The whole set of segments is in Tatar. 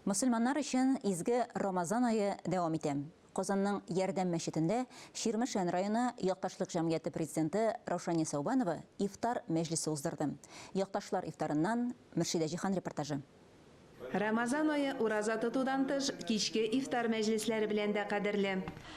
Мөселманнар өчен изге Рамазан ае дәвам итә. Казанның Ярдәм мәчетендә Чирмешән районы якташлык җәмгыяте президенты Раушания Сәүбанова ифтар мәҗлесе уздырды. Якташлар ифтарыннан Мөршидә Җихан репортажы. Рамазан ае ураза тотудан тыш, кичке ифтар мәҗлесләре белән дә кадерле.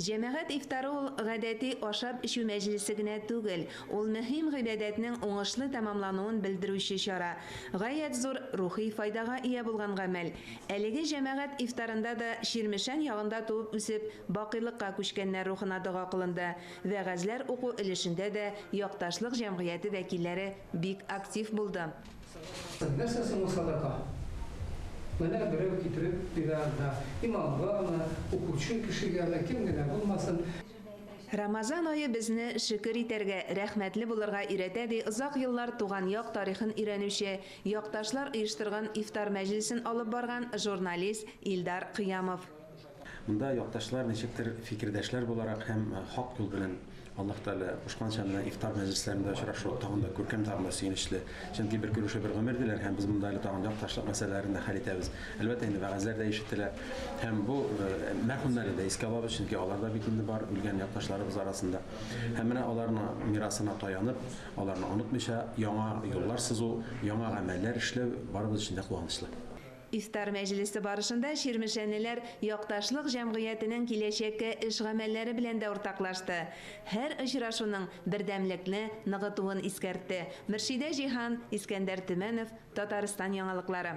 Җәмәгать ифтары ул гадәти ашап-эчү мәҗлесе генә түгел, ул мөһим гыйбадәтнең уңышлы тәмамлануын белдерүче чара, гаять зур рухи файдага ия булган гамәл. Әлеге җәмәгать ифтарында да Чирмешән ягында туып-үсеп, бакыйлыкка күчкәннәр рухына дога кылынды, вәгазьләр уку өлешендә дә якташлык җәмгыяте вәкилләре бик актив булды. Нәрсә соң ул садака? Менә берәү китереп бирә анда, имамгамы, укучы кешегәме, кем генә булмасын. Рамазан ае безне шөкер итәргә, рәхмәтле булырга өйрәтә, ди озак еллар туган як тарихын өйрәнүче, якташлар оештырган ифтар мәҗлесен алып барган журналист Илдар Кыямов. Монда якташлар ничектер фикердәшләр буларак һәм хак юл белән, Аллаһ Тәгалә кушканча, менә ифтар мәҗлесләрендә очрашу тагын да күркәм, тагын да сөенечле. Чөнки бер күрешү, бер гомер, диләр һәм без монда әле тагын якташлык мәсьәләләрен дә хәл итәбез. Әлбәттә инде, вәгазьләр дә ишетелә һәм бу мәрхүмнәрне дә искә алабыз, чөнки алар да бит инде бар, үлгән якташларыбыз арасында. Һәм менә аларның мирасына таянып, аларны онытмыйча, яңа юллар сызу, яңа гамәлләр эшләү барыбыз өчен дә куанычлы. Ифтар мәҗлесе барышында чирмешәнеләр Якташлык җәмгыятенең киләчәккә эш гамәлләре белән дә уртаклашты. Һәр очрашуның бердәмлекне ныгытуын искәртте Мөршидә Җиһан, Искәндәр Төмәнов, Татарстан яңалыклары.